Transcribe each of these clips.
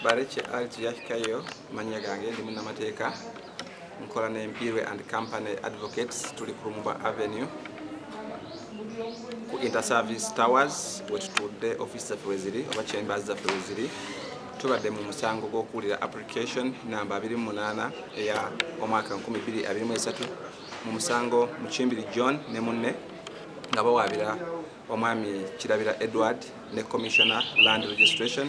Barekye Ali Tuyahikayo mannya gange ndi munnamateeka nkola ne Mpiirwe and Company Advocates tuli ku Lumumba Avenue ku Interservice Towers wetutudde ofiisi zaffe weziri oba chambers zaffe weziri tubadde mu musango gw'okuwulira application namba 28 eya omwaka 2023 mu musango Mukimbiri John ne munne nga bawaabira Omwami Kirabira Edward ne Commissioner Land Registration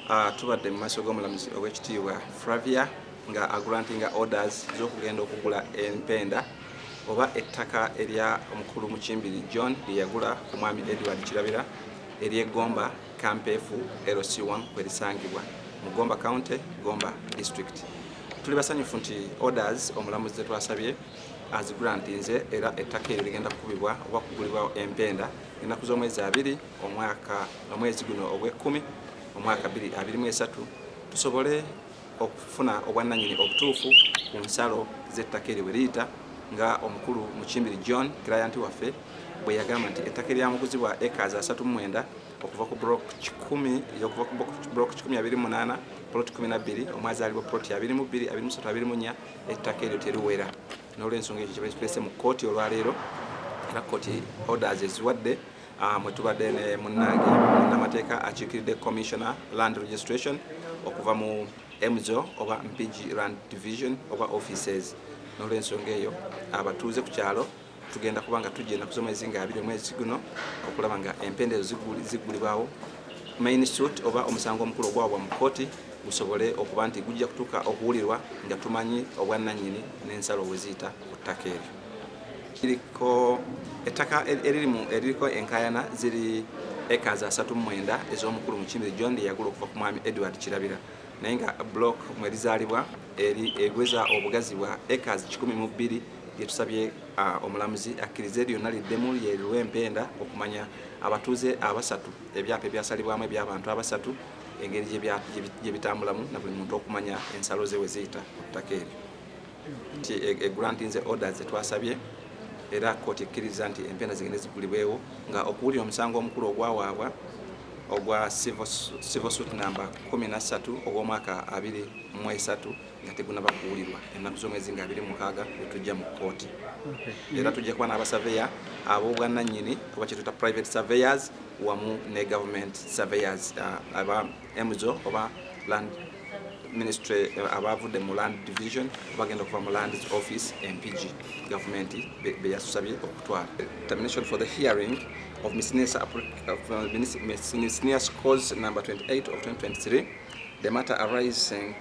uh, tubadde mu maaso g'omulamuzi ow'ekitiibwa Fravia nga agrantinga orders z'okugenda okugula empenda oba ettaka erya omukulu Mukimbiri John lye yagula ku mwami Edward Kirabira ery'e Gomba Kampeefu LC1 kwe lisangibwa mu Gomba County, Gomba District. Tuli basanyufu nti orders omulamuzi ze twasabye azigulantinze era ettaka eryo ligenda kukubibwa oba kugulibwa empenda ennaku z'omwezi abiri omwaka omwezi guno ogw'ekkumi omwaka biri abiri mu esatu tusobole okufuna obwannanyini obutuufu ku nsalo z'ettaka eryo bwe liyita nga omukulu mukimbiri john client waffe bwe yagamba nti ettaka eryamuguzibwa ekazi asatu mu mwenda okuva ku brok kikumi okuva ku brok kikumi abiri munaana poloti kumi nabbiri omwazaalibwa poloti abiri mu bbiri abiri musatu abiri mu nnya ettaka eryo teruwera n'olwensonga ekyo kyebali kitulese mu kkooti olwaleero era kkooti orders eziwadde ah, mwe tubadde ne munnange munnamateeka akiikiridde commissioner land registration okuva mu mzo oba mpigi land division oba offices n'olwensonga eyo abatuuze ku kyalo tugenda kuba nga tujja enaku z'omwezi nga abiri omwezi guno okulaba nga empenda ezo ziggulibwawo main suit oba omusango omukulu ogwawabwa mu kkooti gusobole okuba nti gujja kutuuka okuwulirwa nga tumanyi obwannannyini n'ensalo weziyita ku ttaka eryo kiriko ettaka eririmu eririko enkayana ziri eka za satu mwenda ez'omukulu mukimiri john yagula okuva ku mwami edward kirabira naye nga block mwerizaalibwa eri egweza obugazi bwa acres kikumi mu bbiri Byetusabye omulamuzi akkirize lyonna liddemu lye liwe empenda okumanya abatuuze abasatu ebyapa ebyasalibwamu eby'abantu abasatu engeri gye bitambulamu na buli muntu okumanya ensalo ze we ziyita ku ttaka eryo nti egrantinze e, e orders zetwasabye era kkooti ekkiriza nti empenda zigende zigulibwewo nga okuwulira omusango omukulu ogwawaabwa ogwa civil suit namba 13 ogw'omwaka 23 nga tegunaba kuwulirwa ennaku z'omwezi nga abiri mukaaga bwe tujja mu kkooti era tujja kuba n'abasaveya ab'obwannannyini oba kyetuta private surveyors wamu ne government surveyors uh, aba emzo oba land ministry uh, abavudde mu land division bagenda okuva mu land office mpg gavumenti beyasusabye okutwala termination for the hearing of misnesa uh, cause number 28 of 2023 the matter arising